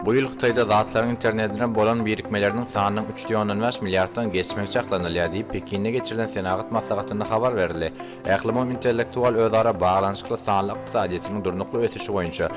Bu ýyl Hytaýda zatlaryň internetine bolan birikmeleriniň sanynyň üç de ondan bäş milliarddan geçmegi çaklanylýar diýip, Pekinde geçirilen senagat maslahatynda habar berildi. Ählumumy intellektual özara baglanyşykly sanly ykdysadyýetiniň durnukly ösüşi boýunça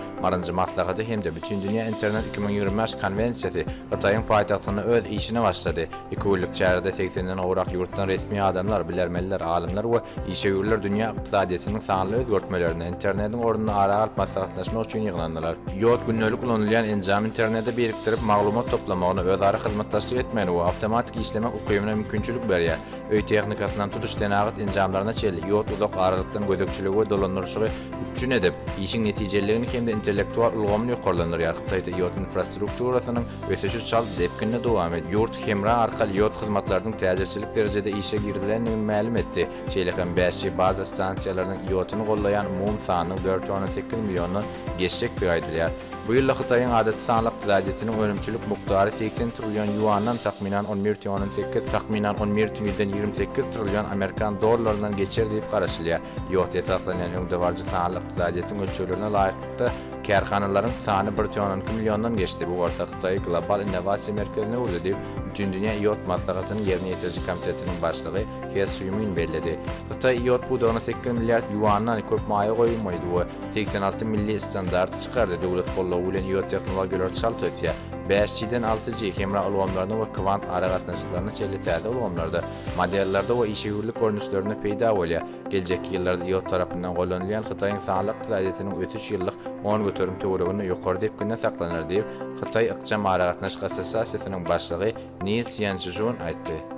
nji maslahaty hem-de Bütindünýä internet iki müň ýigrimi bäş konwensiýasy Hytaýyň paýtagtynda öz işine başlady. Iki günlük çärede segsen-den gowrak ýurtdan resmi adamlar, bilermenler, alymlar we işewürler dünýä ykdysadyýetiniň sanly özgertmelerini, internetiň ornuny ara alyp maslahatlaşmak üçin ýygnandylar. Ýod gündelik ulanylýan enjam internete birikdirip, maglumat toplamagyna, özara hyzmatdaşlyk etmegine we awtomatik işlemek ukybyna mümkinçilik berýär. Öý tehnikasyndan tutuş senagat enjamlaryna çenli, ýod uzak aralykdan gözegçiligi we dolandyryşygy üpjün edip, işiň netijeliligini hem-de intellektual ulgamyny ýokarlandyrýar, Hytaýda ýod infrastrukturasynyň Ösüşi çalt depginde dowam et, Ýurt Hemra arkaly ýod hyzmatlarynyň täjirçilik derejede işe girizilendigini mälim etdi. Şeýle hem 5G baza stansiýalarynyň ýoduny gollaýan umumy sanynyň dört ýüz on sekiz milliondan geçjekdigi aýdylýar. Bu ýylda Hytaýyň adaty sanly ykdysadyýetiniň önümçilik mukdary segsen trillion ýuandan, takmynan, on bir tüýn on sekiz, takmynan, on bir tüýden ýigrimi sekiz trillion amerikan dollaryndan geçer diýip garaşylýar. Ýod esaslanýan öňdebaryjy sanly ykdysadyýetiň ölçeglerine laýyklykda, Kärhanalaryň sany bir tüýn on iki milliondan geçdi, bu bolsa Hytaýy global innowasiýa merkezine öwürdi diýip, Bütindünýä iot maslahatynyň ýerine ýetiriji komitetiniň başlygy He Sýumin belledi. Hytaý iot pudagyna sekiz milliard ýuandan köp maýa goýum goýdy we segsen alty milli standarty çykardy, döwlet goldawy bilen iot tehnologiýalary çalt ösýär. Bäş G-den alty G hemra ulgamlaryna we kwant aragatnaşyklaryna çenli täze ulgamlarda, modellerde we işewürlik görnüşlerinde peýda bolýar. Geljekki ýyllarda ýurt tarapyndan gollanylýan Hytaýyň sanly ykdysadyýetiniň ösüş ýyllyk on göterim töwereginde ýokary depginde saklanar diýip, Hytaý ykjam aragatnaşyk assosiasiýasynyň başlygy Ni Sýançžun aýtdy.